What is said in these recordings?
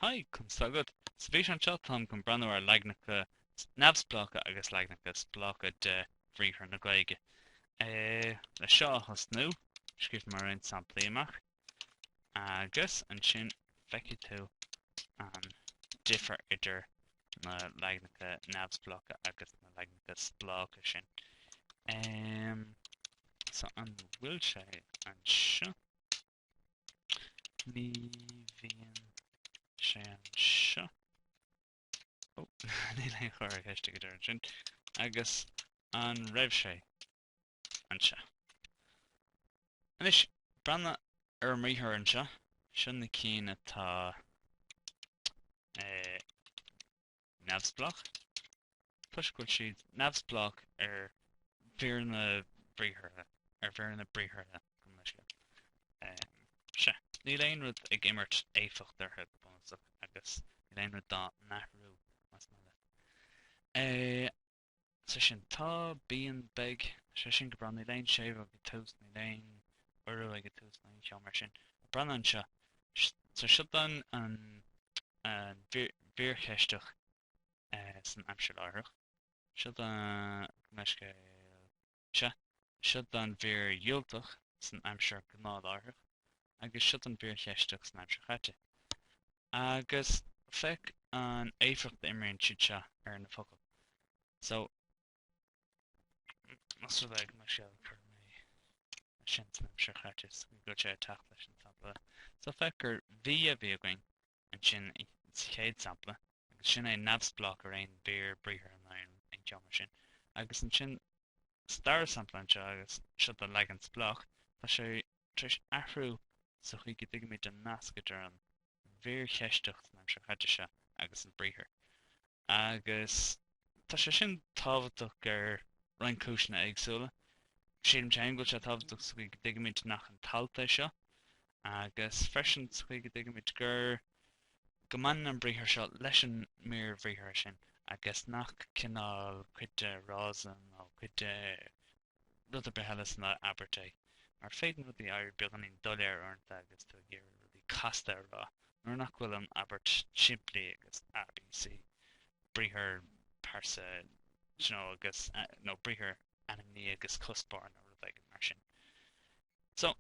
Haigh, Conn s'agat. Sa bhfíseán seo, táim chun breathnú ar leaganacha neamhspleácha agus leaganacha spleácha de bhriathra na Gaeilge. Le seo a thosnú, scríobh mé roinnt samplaí amach, agus ansin feicfidh tú an difear idir na leaganacha neamhspleácha agus na leaganacha spleácha sin. So an bhfuil sé anseo? Ní bhíonn sé anseo. Ó, níl an comhartha ceiste ag deireadh ansin. Agus an raibh sé anseo? Anois, breathna ar an mbriathar anseo, seo na cinn atá eh, neamhspleách, toisc go bhfuil siad neamhspleách ar mhíreanna briathartha, ar mhíreanna briathartha gabh mo leithscéal, sea, níl aon rud ag imirt éifeacht orthu go bunúsach agus níl aon rud dá n-athrú, más maith leat é. so sin tá, bíonn, beidh, sé sin go breá, níl aon séimhiú ag tús, níl aon urú ag tús nó aon cheo mar sin, ach breathnaigh anseo, so seo do mhír cheisteach san aimsir láithreach, seo do, gabh mo leithscéal, seo do mhír dhiúltach san aimsir ghnáthláithreach, agus seo do mhír cheisteach san aimsir chaite. Agus féach an éifeacht a imríonn siad seo ar na focail. So, más rud é go mbeinnse ag cur é sin san aimsir chaite, go mbeadh sé ag teacht leis an sampla. So, féach gur bhí a bhí againn Ansin sa chéad sampla, agus sin é neamhspleách ar aon mhír briathartha ná aon cheo mar sin. Agus ansin sa dara sampla anseo, agus seo do leagan spleách, tá sé tar éis athrú sa chaoi go dtuigimid an nasc idir an mhír cheisteach san aimsir chaite seo agus an briathar. Agus tá sé sin tábhachtach ar roinnt cúiseanna éagsúla. Sílimse go bhfuil sé tábhachtach sa chaoi go dtuigimid nach an t-alt é seo, Agus freisin, sa chaoi go dtuigimid gur, go mbaineann an briathar seo leis an mír bhriathartha sin, agus nach cineál, cuid de fhrása nó cuid de rud ar bith eile san abairt é. Mar is féidir le rudaí éirí beagáinín doiléir uaireanta agus tú ag iarraidh rudaí casta a rá, nuair nach bhfuil an abairt simplí agus A, B, C, briathar, pearsa, you know, agus, nó briathar, ainmní agus cuspóir nó rud éigin mar sin. So,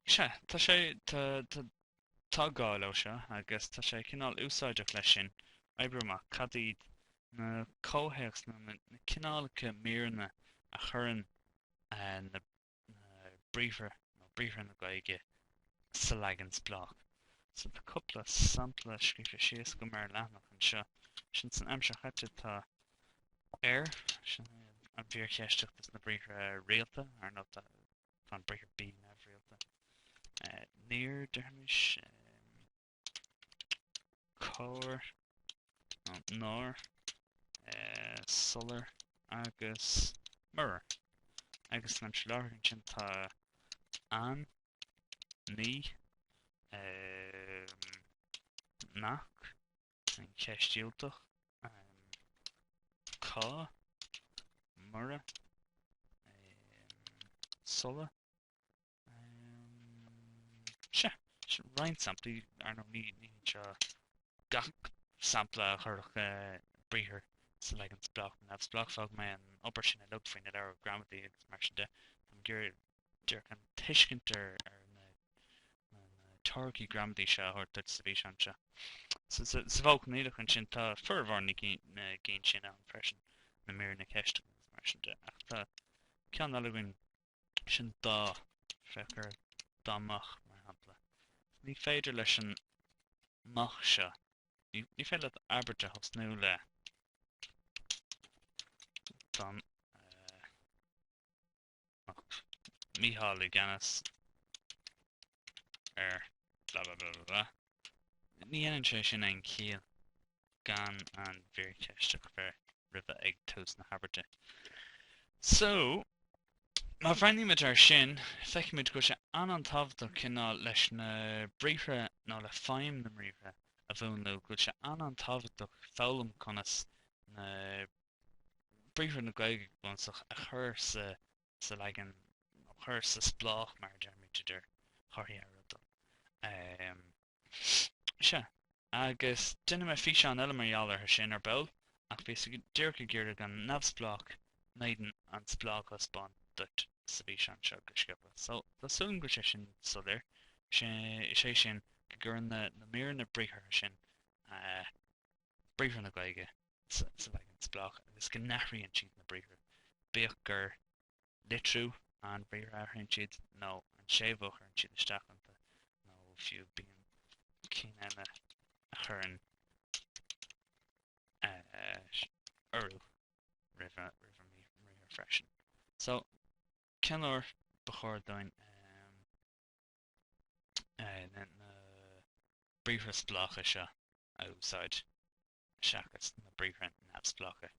sea, tá sé, tá, tá, tá gá leo seo agus tá sé cineál úsáideach leis sin oibriú amach cad iad na comhthéacsanna, na cineálacha míreanna a chuireann eh, na, na briathra nó briathra na Gaeilge sa leagan spleách. So tá cúpla sampla scríofa síos agam ar leathanach anseo. Sin san aimsir chaite tá ar. Sin é an mhír cheisteach do na briathra rialta, ar ndóigh. Tá an briathar bí neamhrialta. Níor, déarfaimis. Cár nó nár. Sular agus murar. Agus san aimsir láithreach ansin tá an, ní, nach. An cheist dhiúltach, cá, mura, sula. Sea, roinnt samplaí, ar ndóigh, ní anseo gach sampla a chuirfeadh briathar sa leagan spleách nó neamhspleách. Fágfaidh mé an obair sin uileag faoi na leabhra gramadaí agus mar sin de. Táim ag iarraidh an tuiscint ar na teoiricí gramadaí seo a thabhairt duit sa bhfíseán seo. Sa mhodh coinníollach ansin, tá formhór na gcinn sin ann freisin, na míreanna ceiste agus mar sin de, ach tá ceann eile againn, sin dá, féach ar dá mbeadh, mar shampla. Ní féidir leis an mbeadh seo, ní féidir leat abairt a thosnú le dá, Mícheál i gceannas ar blah blah blah blah blah. Ní dhéanann sé sin aon chiall gan an mhír cheisteach bheith roimhe ag tús na habairte. So, má bhreathnaímid air sin, feicimid go bhfuil sé an-an-tábhachtach cineál leis na briathra nó le feidhm na mbriathra a mhúnlú, go bhfuil sé an-an-tábhachtach foghlaim conas na briathra na Gaeilge go bunúsach, a chur sa sa leagan, nó chur sa spleách mar a deirimid, idir chomharthaí athfhriotail. Ahem. Sea. Agus déanfaidh mé físeán eile mar gheall orthu sin, ar ball, ach bhíos díreach ag iarraidh an neamhspleách in éadan an spleách a thaispeáint duit sa bhfíseán seo go sciobtha. So, tá súil agam go bhfuil sé sin soiléir, sé sé sin, go gcuireann na na míreanna briathartha sin a briathra na Gaeilge sa leagan spleách agus go n-athraíonn siad na briathra, bíodh gur litriú an bhriathair a athraíonn siad, nó an séimhiú a chuireann siad isteach iontu, nó fiú bíonn cinn eile a chuireann urú roimh an mbriathar freisin. So, cén uair ba chóir dúinn na briathra spleácha seo a úsáid seachas na briathra neamhspleácha.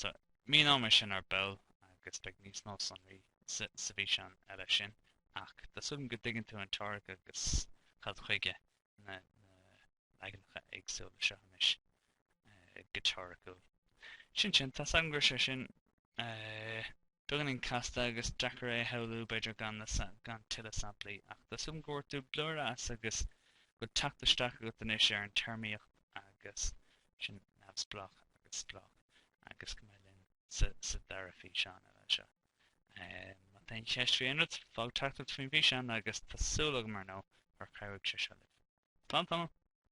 So, míneoimid sin ar ball agus beidh níos mó sonraí sa bhfíseán eile sin, ach tá súil agam go dtuigeann tú an teoiric agus cad chuige na leaganacha éagsúla seo anois go teoiriciúil. Sin sin, tá 's agam go raibh sé sin beagáinín casta agus deacair é a shamhlú, b'fhéidir, gan tuilleadh samplaí, ach tá súil agam go bhfuair tú blúire as agus go bhfuil teacht isteach agat anois ar an téarmaíocht úd sin neamhspleách agus spleách agus go mbeidh tú linn sa dara físeán eile seo. Má tá aon cheist faoi aon rud, fág teachtaireacht faoin bhfíseán agus tá súil agam, ar ndóigh, gur chabhraigh sé seo libh. Slán tamall!